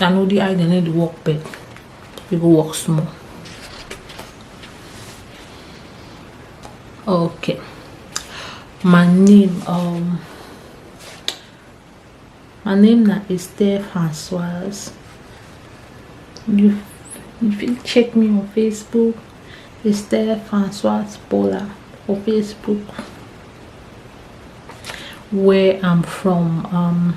I know the eye they need work but you go work small. Okay. My name um my name na Esther Francoise. You you fit check me on Facebook Esther Francoise Bola for Facebook where I'm from um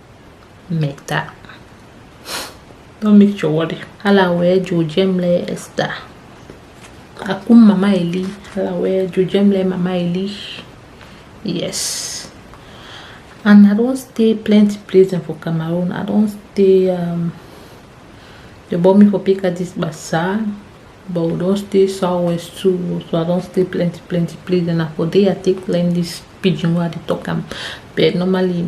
make that don't make your worry hala wee jojem le esta akum mama eli hala wee jojem le mama eli yes and i don stay plenty places for cameroon i don stay um, they bought me for picadis bazaar but we don stay southwest too so i don stay plenty plenty places and na for there i take learn this pidgin wey i dey talk am but normally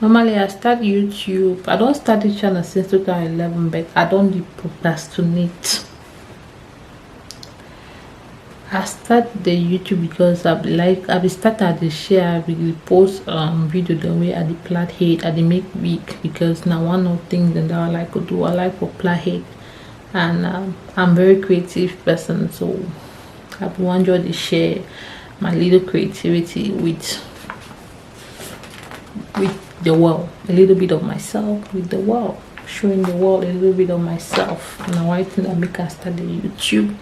normally i start youtube i don't start the channel since 2011 but i don't dey procrastinate i start the youtube because i be like i be start at the share i be post um video the way i the plait head i the make week because now one of things that i like to do i like for plait head and um, i'm very creative person so i be wan just dey share my little creativity with with the world a little bit of myself with the world showing the world a little bit of myself and na why thing i make i start the youtube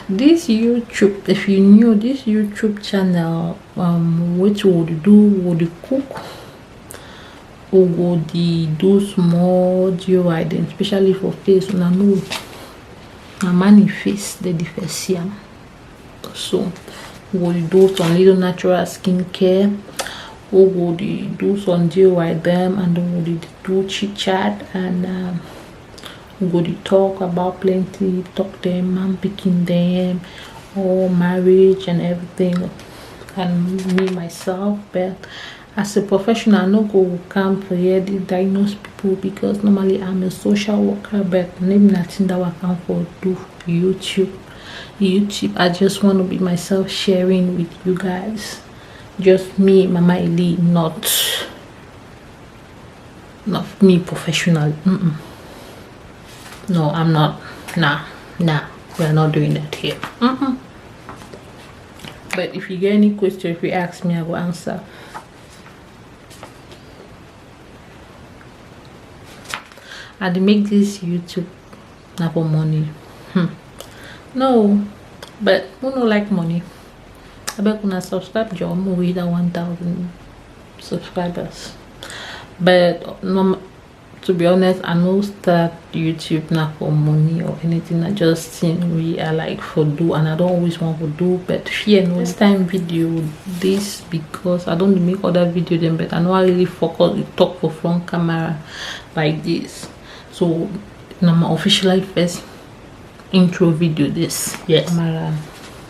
this youtube if you knew this youtube channel um which would do would cook u go the do small DIY dem especially for face una know na man in face dey the first see am so we go do some little natural skincare we go dey do some DIY dem and we go dey do chit chat and um, we go dey talk about plenty talk dem man picking dem or marriage and everything and me myself but As a professional, I no go come to here dey diagnose people because normally I'm a social worker, but maybe nothing that I can for do YouTube. YouTube, I just want to be myself sharing with you guys. Just me, Mama Eli, not not me professional. Mm -mm. No, I'm not. Nah, nah, we're not doing that here. Mm but if you get any question if you ask me i will answer i dey make this youtube na for money hmm. no but who no like money I abeg una subscribe joor mo wey that 1000 subscribers but no to be honest i no start youtube now for money or anything i just think we i like for do and i don't always want to do but fear no this time video this because i don't make other video then but i know i really focus to talk for front camera like this so now my official life first intro video this yeah camera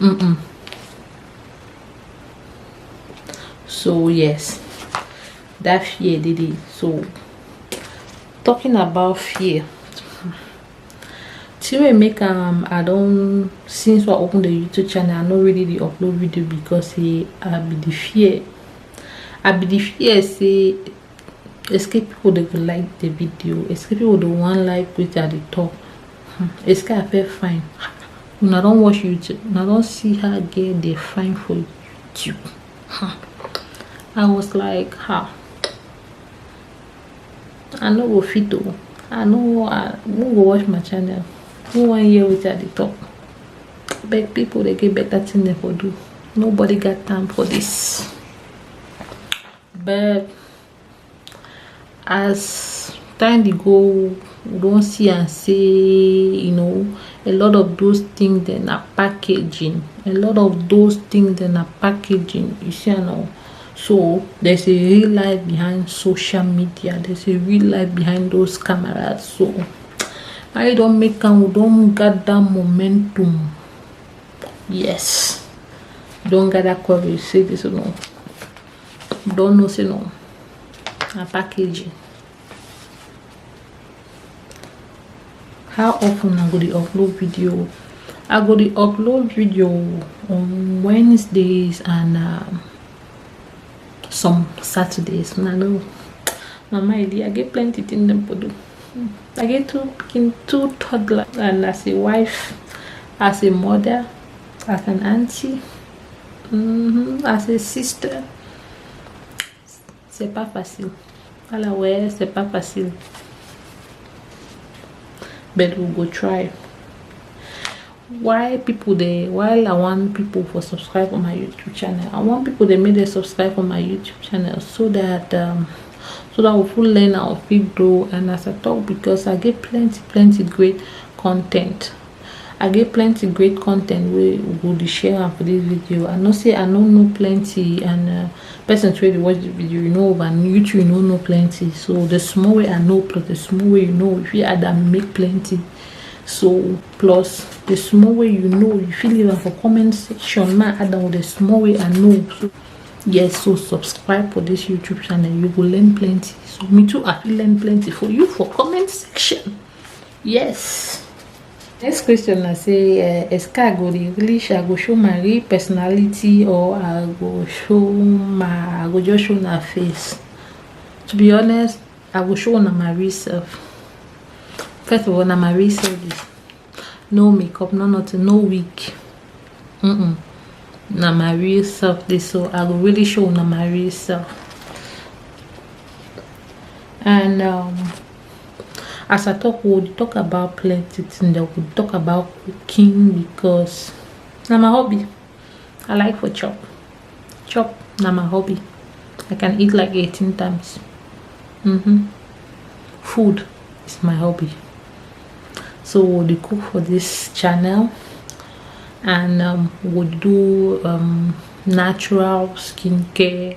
Mm-mm. so yes that fear did it so talking about fear Tire make um I don't since I opened the YouTube channel I no really the upload video because he I be the fear I be the fear say escape people dey go like the video escape people dey wan like wetin i dey talk hmm, escape appear fine una don watch youtube una don see her girl dey fine for youtube hmm. i was like ha i no go fit o i no who go watch my channel who wan hear wetin i dey talk beg people dey get better thing dem for do nobody got time for this. but as time dey go we don see am sey um a lot of those things dem na packaging a lot of those things dem na packaging you see am now so there's a real life behind social media there's a real life behind those cameras so I don make am we don gather momentum yes don gather courage say this one don't know say no na packaging how often i go dey upload video i go dey upload video on wednesdays and um, some saturdays una know mama idi i get plenty thing dem for do i get two pikin two toddler and as a wife as a mother as an auntie Mm -hmm. As a sister, c'est pas facile. Voilà, ouais, c'est pas facile. But we go try. Why people they why I want people for subscribe on my YouTube channel? I want people they make they subscribe on my YouTube channel so that um so that we full learn our fit grow and as I talk because I get plenty plenty great content i get plenty great content wey we go dey share am for this video i know say i no know plenty and uh, persons wey dey watch the video you know over and you too you no know plenty so the small way i know plus the small way you know if you add am make plenty so plus the small way you know you fit leave am for comment section ma add am with the small way i know so yes so subscribe for this youtube channel you go learn plenty so me too i fit learn plenty for you for comment section Yes. Next question na say uh, eh, Eska go dey English, I go show my real personality or I go show my, I go just show my face. To be honest, I go show una my real self. First of all, na my real self is no makeup, no nothing, no wig. Mm -mm. Na my real self this, so I go really show una my real self. And um, as i talk we dey talk about plenty things dem we talk about cooking because na my hobby i like for chop chop na my hobby i can eat like 18 times mm-hmm. food is my hobby so we dey cook for this channel and um, we do um, natural skincare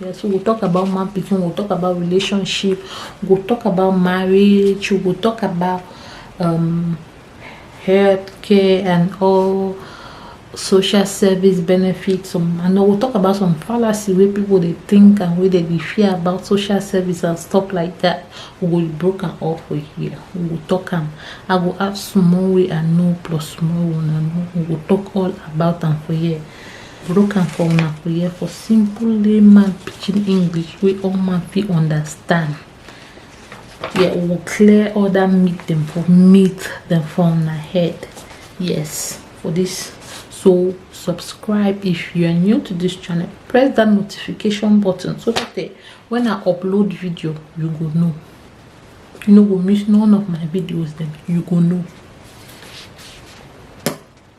Yes, we go talk about man pikin, we go talk about relationship, we go talk about marriage, we go talk about um, health care and all social service benefits some and we'll talk about some fallacy where people they think and where they be fear about social service and stuff like that we will break am off for here we will talk them. i will add small way and no plus small one and we will talk all about them for here broke am for una for here for simple layman pidgin english wey all man fit understand yeah we will clear all that meat them for meat them for una head yes for this so subscribe if you are new to this channel press that notification button so that eh, when i upload video you go know you no go miss none of my videos Then you go know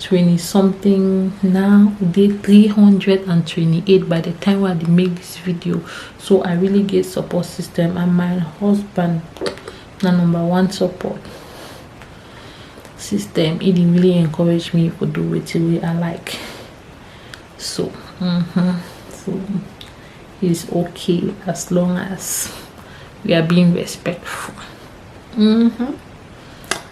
20 something now day 328 by the time where they make this video so i really get support system and my husband the number one support system it really encouraged me to do it way i like so mm -hmm. so it's okay as long as we are being respectful mm -hmm.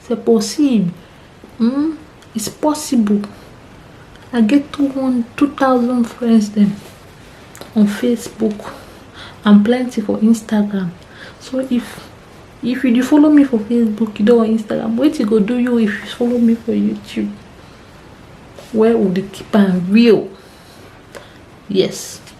Se possib, hmm, it's possible. I get 2,000 friends dem on Facebook and plenty for Instagram. So if if you follow me for Facebook, you don't on Instagram, wait you go do you if you follow me for YouTube? Where would you keep am real? Yes.